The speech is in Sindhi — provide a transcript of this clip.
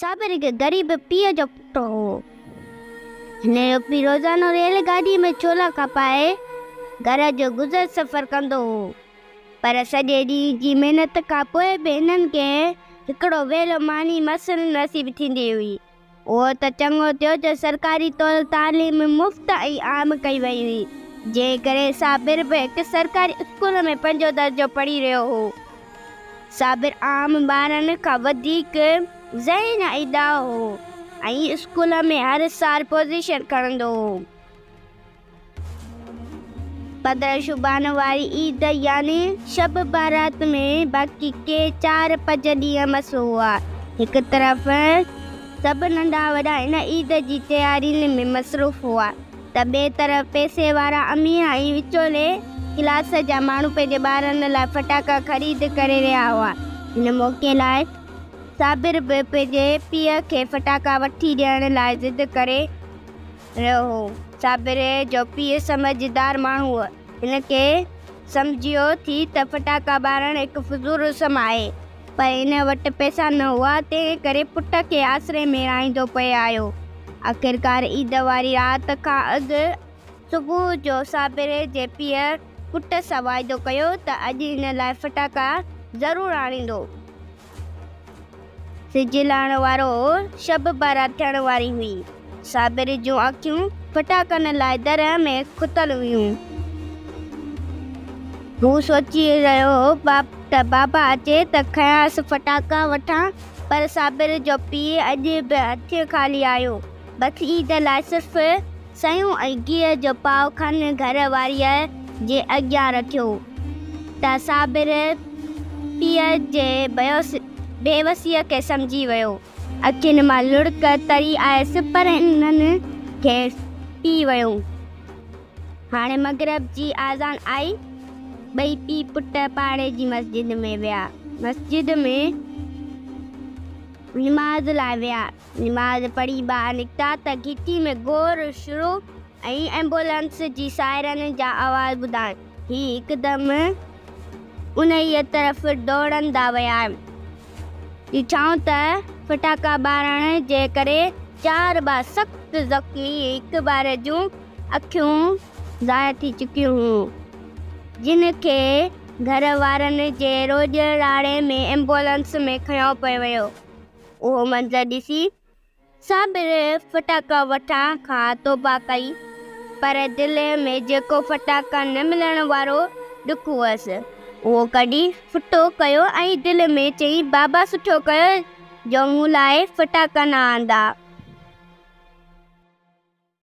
صابر هڪ غريب پيء جو پٽ هو. هن جو پيء روزانو ريل گاڏيء ۾ ڇولا کپائي گهر جو گذر سفر ڪندو هو، پر سڄي ڏينهن جي محنت کان پوء به هنن کي هڪڙو ويلو ماني مس نصيب ٿيندي هئي. اهو ته چڱو ٿيو جو سرڪاري طور تعليم مفت ۽ عام ڪئي وئي هئي، جنهن ڪري صابر به هڪ سرڪاري اسڪول ۾ پنجون درجو پڙهي رهيو هو. صابر عام ٻارن کان وڌيڪ ذهين ۽ ڏاهو هو ۽ اسڪول ۾ هر سال پوزيشن کڻندو هو. پندرهن شعبان واري عيد يعني شب بارات ۾ باقي ڪي چار پنج ڏينهن مس هئا. هڪ طرف سڀ ننڍا وڏا ان عيد جي تيارين ۾ مصروف هئا. ته ٻئي طرف پئسي وارا امير ۽ وچولي ڪلاس جا ماڻهو پنهنجي ٻارن لاء فٽاڪا خريد ڪري رهيا هئا. هن موقعي لاء صابر به پنهنجي پيء کي فٽاڪا وٺي ڏيڻ لاء ضد ڪري رهيو هو. صابر جو پيء سمجهدار ماڻهو هو. هن کي سمجهيو ٿي ته فٽاڪا ٻارڻ هڪ فضول رسم آهي. پر هن وٽ پئسا نه هئا، تنهن ڪري پٽ کي آسري ۾ رهائيندو پئي آيو. آخرڪار عيد واري رات کان اڳ صبح جو صابر جي پيء پٽ سان واعدو ڪيو ته اڄ هن لاء ڦٽاڪا ضرور آڻيندو. سج لهڻ وارو هو، شب بارات ٿيڻ واري هئي. صابر جون اکيون ڦٽاڪن لاء درياهه ۾ کتل هيون. هو سوچي رهيو هو ته بابا اچي ته کنيانس ڦٽاڪا وٺان، پر صابر جو پيء اڄ به هٿين خالي آيو. بس عيد لاء صرف سيون ۽ گيهه جو پاء کن گهر واريء جي اڳيان رکيو ته صابر پيء جي بيوسيء کي سمجهي ويو. اکين مان لڙڪ تري آيس پر انهن کيس پي ويو. هاڻي مغرب جي آذان آئي. ٻئي پي پٽ پاڙي جي مسجد ۾ ويا. مسجد ۾ نماز لاء ويا. نماز پڙهي ٻاهر نڪتا ته گهٽي ۾ گور شروع ۽ ايمبولنس جي سائرن جا آواز ٻڌائين. هي هڪدم انهيء طرف ڊوڙندا ويا. ڏٺائون ته ڦٽاڪا ٻارڻ جي ڪري چار ٻئا سخت زخمي هڪ ٻار جون اکيون ضايع ٿي چڪيون هيون، جن کي گهر وارن جي روڄ راڙي ۾ ايمبولنس ۾ کنيو پيو ويو. اهو منظر ڏسي صابر ڦٽاڪا وٺڻ کان توبه ڪئي، پر دل ۾ جيڪو ڦٽاڪا نه ملڻ وارو ڏک هئس، اهو ڪڍي ڦٽو ڪيو ۽ دل ۾ چئي، بابا سٺو ڪيو جو مون لاء ڦٽاڪا نه آندا.